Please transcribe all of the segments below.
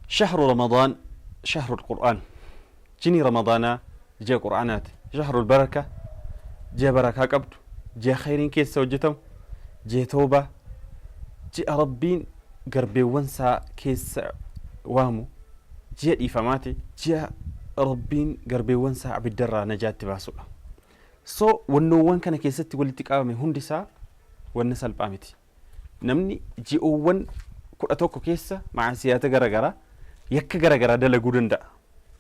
Shahru Ramadaan Shahrul Qur'aan Jinii Ramadaanaa ji'a Qur'aanaati. Shahrul Baraka Ji'a barakaa qabdu, ji'a khayriin keessa hojjatamu, ji'a tawbaa, ji'a Rabbiin garbeewwan isaa keessa waamu, ji'a dhiifamaati, ji'a Rabbiin garbeewwan isaa abidda irraa najaa itti baasudha. So, wannoowwan kana keessatti walitti qabame hundi isaa wanna salphaa miti. Namni ji'oowwan 11 keessa ma'asiyaata gara garaa, yakka gara garaa dalaguu danda'a.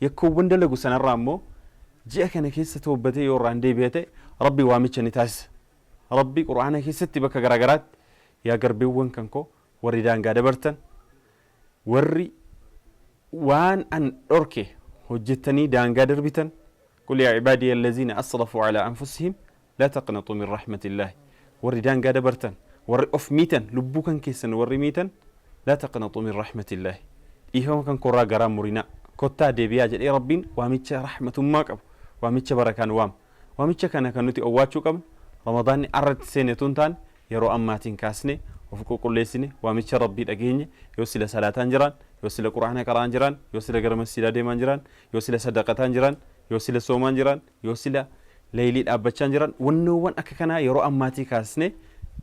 Yakkoowwan dalagu sanarraa immoo ji'a kana keessa toobbatee yoo irraan deebi'e ta'e Rabbi waamicha ni taasisa. Rabbi Qur'aana keessatti bakka gara garaatti yaa garbiiwwan kan koo warri daangaa dabartan warri waan an dhorke hojjettanii daangaa darbitan Qul yaa ibaadiyya allaziina asrafuu alaa anfusihim laa taqnaxuu min rahmatillaah Warri daangaa dabartan, warri of miitan, lubbuu kan keessan warri miitan laa taqnaxuu min rahmatillaah Dhiifama kan koorraa garaa murinaa. Kottaa deebi'aa jedhee Rabbiin waamicha rahmatummaa qabu, waamicha barakaan waama. Waamicha kana kan nuti owwaachuu qabnu Ramadaanni arratti seene utuu hin taane yeroo ammaatiin kaasnee of qulqulleessine waamicha Rabbii dhageenye yoo sila salaataan jiraan, yoo sila Qur'aana qara'aan jiraan, yoo sila gara masjiidaa deemaan jiraan, Yoo sila sadaqataan jiraan, yoo sila soomaan jiraan, yoo sila laylii dhaabbachaan jiraan, wannoowwan akka kanaa yeroo ammaatii kaasnee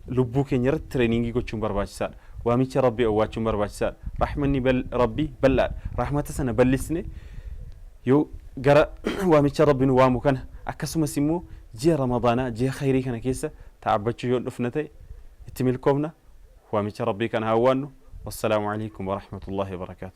lubbuu keenya irratti tireeningii gochuun barbaachisaadha. Waamicha Rabbii owwaachuun barbaachisaadha. Rahmanni bal- Rabbii bal'aadha. Rahmata sana bal'isne yoo gara waamicha Rabbi nu waamu kana akkasumas immoo ji'a Ramadaanaa ji'a khayrii kana keessa ta'abbachuu yoo dhufna ta'e itti milkoofna waamicha Rabbii kana hawwaannu wassalaamu alaikum warahmatullahi wabarakaatu.